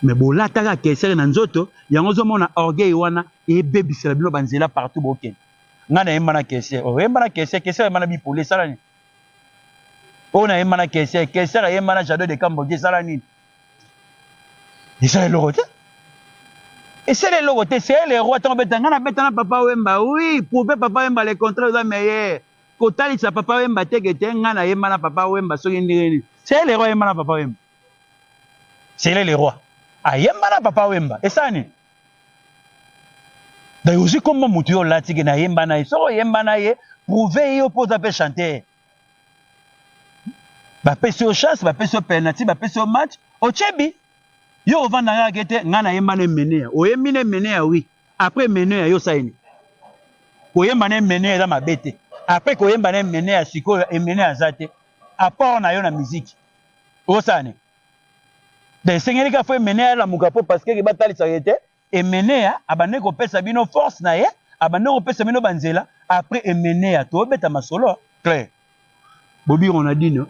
me bolataka kesere na nzoto yango ozomona orgueil wana ebebisela bino banzela partout bokende ngai nayemba na kesere oyemba na kesere kesere oyemba na bipoli esalani oyo nayemba na keser keser ayemba na jado de kambogi esala nini esala eloko te esala eloko te seyele eroi ntango obeta ngai nabeta na papa wemba wi prouve papa wemba le contraire oza meilleur kotalisa papa wemba teke te ngai nayemba na papa wemba soki ndenge nini seyele eroi ayemba na papa wemba seyele eroi ayemba na papa wemba esala nini donc ozwi kombo motu yo olati ke nayemba na ye soki oyemba na ye prouve ye yo mpo oza mpe chanteur bapesi yo chance bapesi yo penalty bapesi yo match ocebi yo ovanda kaka ke te ngai nayemba na emeneya oyembi na emeneya wi après emeneya yo osalini koyemba na emeneya eza mabe te après koyemba na emeneya sikoyo emeneya aza te apport na yo na miziki osala nini Donc esengeli kaka fo Emeneya alamuka mpo pasiteke batalisaka ye te. Emeneya abandaki kopesa bino force na ye, abandaki kopesa bino banzela. Après Emeneya tobeta masolo clair. Bobi Ronaldinho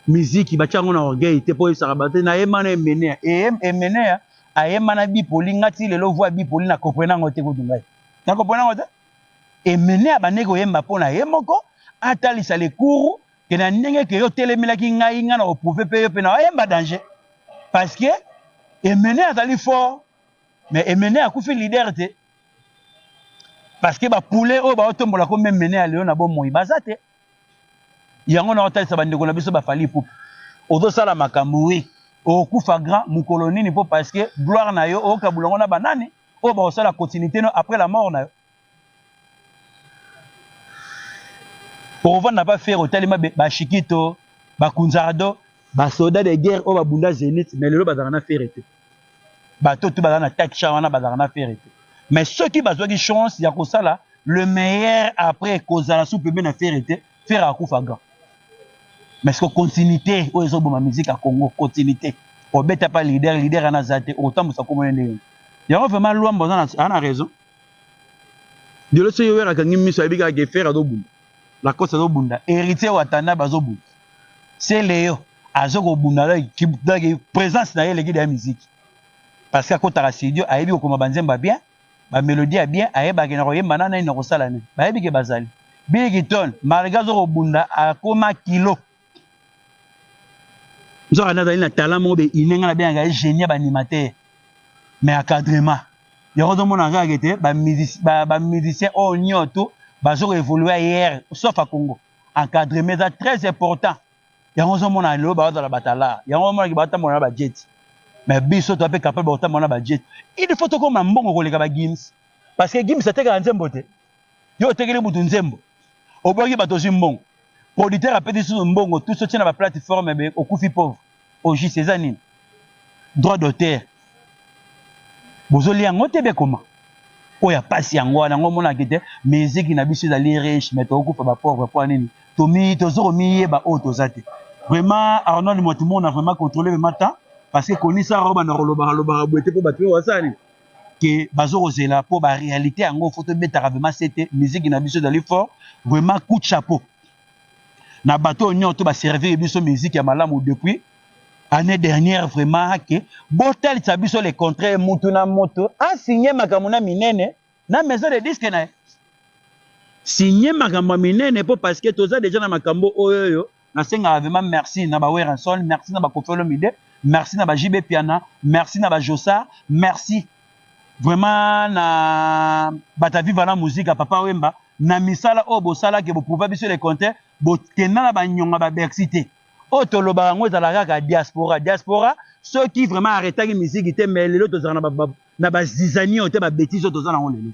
miziki batya yango na orgueil te mpo oyebisaka bato te nayemba na Emeneya. Emeneya ayemba na Bipoli nga ti lelo voix ya Bipoli na comprena yango te kutu ngai. Na comprena yango te. Emeneya abandaki koyemba mpo na ye moko atalisa le cours ke na ndenge ke yo otelemelaki ngai ngai na koprouve mpe yo mpe na oyemba danger parce que emene azali fort mais emene akufi leader te parce que bapoulet oyo baotombola ko meme mene ya lelo na bomoi baza te yango na otalisa bandeko na biso bafali ipupu ozosala makambo wi okokufa grand mokolo nini mpo parce que gloire na yo okabula yango na banani oyo bakosala continuité no après la mort na yo okovanda pa fere otali mabe bashikito bakunzardo basoda de guerre oyo babunda zenith mais lelo bazalaka na fere te bato tu bazala na taksha wana bazalaka na fere te mais soki bazwaki chance ya kosala le meilleur après kozala sous pembe na fere te fere akufa grand mais siko continuité oyo ezoboma musique ya congo continuité obeta pa leader leader wana aza te okotambusa komona ndenge yango vraiment lwamba aza na raison Diolo soki wera akangi miso ayebi kaka ke ferre azobunda lacoste azobunda héritier watanabe azobunda se leo azo kobunda daki présence na ye eleki deya miziki parce que akotaka studio ayebi kokoma banzembo ya bien bamélodie ya bien ayebaki na koyemba na nani na kosala nini bayebi ke bazali biliki tone malgré azo kobunda akoma kilo nzoka nde azali na talent moko beine ngai nabengaka ye génie ya baanimateur mais acadrement yango ozomona kaka kete bamusicien oyo nyoto bazoka évolue ayere sauf a congo encadrement eza très important yango ozomona lelo bazala batalar yango omonaki batambola na bajeti mais biso toa mpe capable bakotambola na bajeti il faut tokoma mbongo koleka bagims parce que gims atekaka nzembo te yo otekeli mutu nzembo obwaki bato ozwi mbongo producteur apesi susu mbongo tusi otie na baplateforme ebe okufi pauvre ogis eza nini droit d'auteur bozolia yango te bekoma oyo ya mpasi yango wana yango omonaki te miziki na biso ezali riche mai tokokufa bapauvre mpo nini tozo komiyeba oyo toza te vraiment arnold motimona vraiment controle vraiment temps parce que konisa obanda kolobaka lobaka boye te mpo bato mpe basala nini que bazo kozela po ba réalité yango faut tobetaka vraiment sete musique na biso ezali fort vraiment coup de chapeau na bato oyo nyonso to baservir biso musique ya malamu depuis année dernière vraiment ake botalisa biso le contraire mutu na moto asigne makambo na minene na maison de disque na ye signe makambo ya minene mpo parce que toza deja na makambo oyo oyo nasengaka vraiment merci na ba Werrason merci na ba Koffi Olomide merci na ba JB Piana merci na ba Jossard merci vraiment na bata viva la musique ya papa Wemba na misala oyo bosalaki boprouva biso le contraire bokenda na banyonga ba Bercy te oyo tolobaka yango ezalaka kaka diaspora diaspora soki vraiment arretaki miziki te mais lelo tozalaka na bazizani oyo te babetise oyo toza nango lelo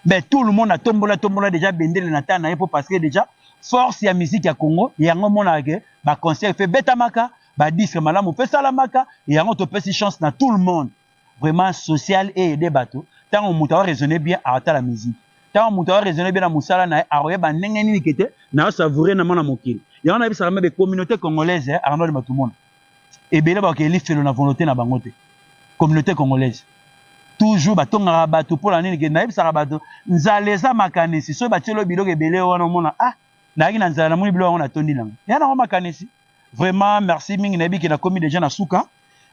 mais ben, tout le monde atombola tombola déjà bendele na temps na ye mpo parce que déjà force ya musique ya congo yango omonaka ke baconcert mpe betamaka badisque malamu mpe esalamaka yango topesi chance na tout le monde vraiment social eede bato ntango moto aoraisonne bien aotala musique ntango moto aoraisonne bien na mosala na ye akoyeba ndenge nini kete naosavoure na mwana mokili yango nayebisaka mebe communauté congolaise eh, arnold matumona ebele ba ke lifelo na volonté na bango te communauté congolaise toujours batongaka bato mpo na nini ke nayebisaka bato nzala eza makanisi soki batielo biloko ebele wana omona ah nayaki na nzala namoni biloko yango natondi nango ya nango makanisi vraiment merci mingi nayebi ke nakomi deja na suka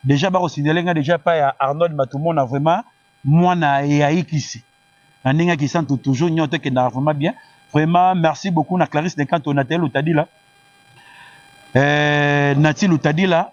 deja bakosinzele ngai deja epai ya arnold matumona vraiment mwana eyayikisi na ndenge ya kisantu toujours nyoto ekendaka vraiment bien vraiment merci beaucoup na clarisse dekanto nathalie lutadila eh, nati lutadila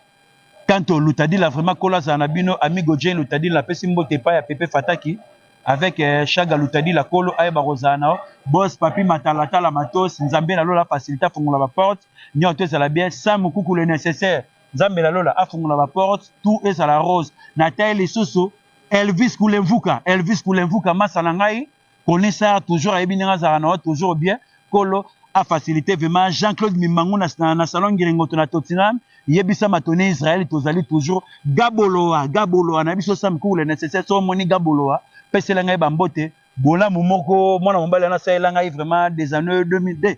kanto lutadila vraiment kola azala na bino amigo jane lutadila apesi mbote epai ya pepe fataki avec eh, shaga lutadila kolo ayeba kozala na bos papi matalatala matos nzambe na lola afacilite afongola baporte nyoto ezala bien sa mokuku le nécessaire nzambe na lola afongola baporte tout ezala rose na tai lisusu Elvis Kulemvuka, Elvis Kulemvuka, masa na ngai, konisa toujours ayebi ndenge azalaka na yo toujours bien, kolo a facilité vraiment Jean-Claude Mimangu na, na, na salon Ngiringoto na Tottenham, yebisa matone Israël tozali toujours Gaboloa, Gaboloa na biso Sam Koule nécessaire so moni Gaboloa, pesela ngai ba mbote, bolamu moko mwana mobali wana asalela ngai vraiment des années 2002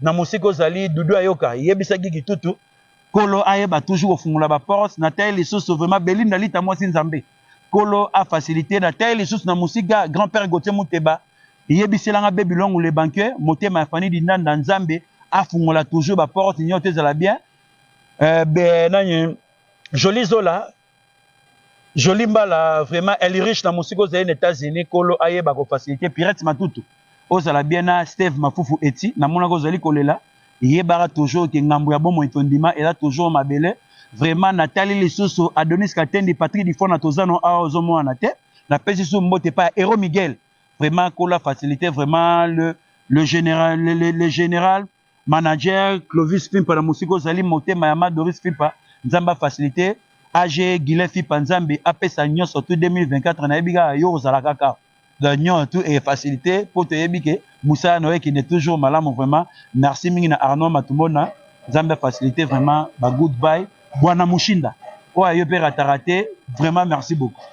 na mosika ozali dudu ayoka yebisa gigi tutu kolo ayeba toujours kofungola baporte na tai lisusu vraiment belinda lita mwasi nzambe kolo afacilite na tai lisusu na mosika grand père gotie muteba yebiselanga bebi longu le banque motema ya fani dindanda nzambe afungola toujours baporte nyonso ezala bien euh, be, nani joli zola Jolie Mbala, vraiment, elle est riche na musiko zali na États-Unis, kolo aye bako faciliter pirate matutu. Ozala bien na Steve Mafufu eti, na mona ko zali kolela, ye bara toujours ke ngambo ya bomo itondima, ela toujours mabele. Vraiment, na tali lisusu Adonis Katendi, Patrick Difona tozano awa ozo mona na te. Na pesi su mbote pa Hero Miguel. Vraiment, kola faciliter vraiment le, le général, le, le, le général, manager Clovis Fimpa na mosika ozali motema ya ma Doris Fimpa nzambe facilite AG Gilet Fimpa nzambe apesa nyonso tout 2024 nayebi kaka yo ozala kaka nyon tout est facilité mpo toyebi ke mosala na yo ekende toujours malamu vraiment merci mingi na Arnaud Matumona nzambe facilite vraiment ba good bye bwana mushinda oyo ayo mpe ratara te vraiment merci beaucoup